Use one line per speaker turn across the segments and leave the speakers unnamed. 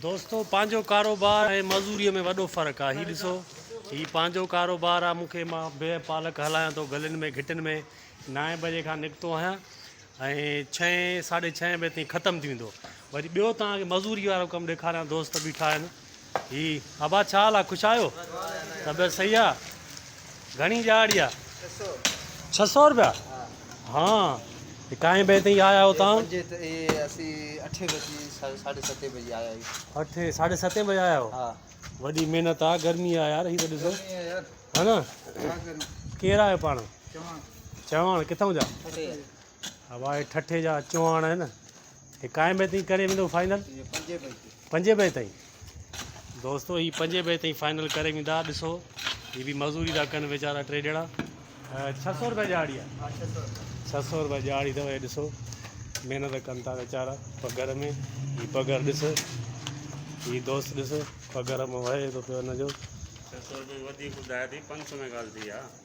دوستو پنهنجو ڪاروبار ۽ معذوريء ۾ وڏو فرق آ هي ڏسو هي پنهنجو ڪاروبار آ مون کي مان بيهه پالڪ هلايان ٿو گلين ۾ گهٽين ۾ نائين بجي کان نڪتو آهيان ۽ ڇهين ساڍي ڇهين بجي تائين ختم ٿي ويندو وري ٻيو توهان کي معذوري وارو ڪم ڏيکاريان دوست بيٺا آهن هي ابا ڇا حال آ خوش آهيو طبيعت صحيح آ گهڻي ڄاڙ آ ڇهه سؤ روپيا ها ڪائين بجي تائين آيا آهيو تان اسين اٺي بجي ساڍي ستين بجي آيا آهيو اٺي ساڍي ستين بجي آيا آهيو ها وڏي
محنت آ
گرمي آ يار هي ته ڏسو ها نه ڪير آهيو پاڻ چوهاڻ چوهاڻ ڪٿان جا واء ٺٺي جا چوهاڻ آهن هي ڪائين بئي تائين ڪري ويندو فائنل پنجين بئي تائين دوستو هي پنجين بئي تائين فائنل ڪري ويندا ڏسو هي به مزوري ٿا ڪن ويچارا ٽي ڄڻا ڇهه سؤ روپيا ڄاڙي آهي ڇهه سؤ روپيا ڄاڙي اٿو هي ڏسو محنت ڪن ٿا ويچارا پگهر ۾ هي پگهر ڏس هي دوست ڏس پگهر ۾ وهي ٿو پيو هن جو ڇهه سؤ روپيا
وڌيڪ ٻڌايا اٿئي پنج سؤ ۾ ڳالهه ٿي آ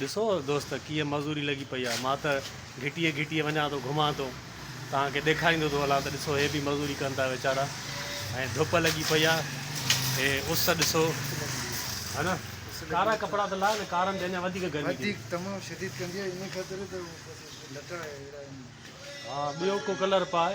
ڏسو دوست ڪيئن معذوري لڳي پئي آهي مان ته گهٽيء گهٽيء وڃان ٿو گهمان ٿو توهان کي ڏيکاريندو ٿو هلان ته ڏسو هي به مزوري ڪن ٿا ويچارا ۽ ڌپ لڳي پئي آهي هي اس ڏسو ها نه ڪارا ڪپڙا ته لاء نه ڪارن تي اڃا وڌيڪ گرمي ٿي وڌيڪ تمام شديد ڪندي آهي ان خاطر ته بس لٽا اهڙا آهن ها ٻيو ڪو ڪلر پائي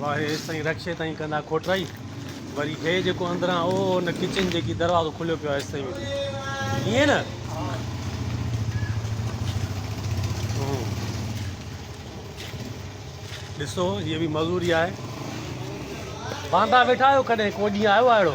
واهه ايستائين رڪشي تائين ڪندا کوٽرائي وري هي جيڪو اندران او ان ڪچن جيڪي دروازو کليو پيو ايستائين ويندي ائين نه ڏسو هي به مزوري آهي واندا ويٺا آهيو ڪڏهن ڪو ڏينهن آيو آهي اهڙو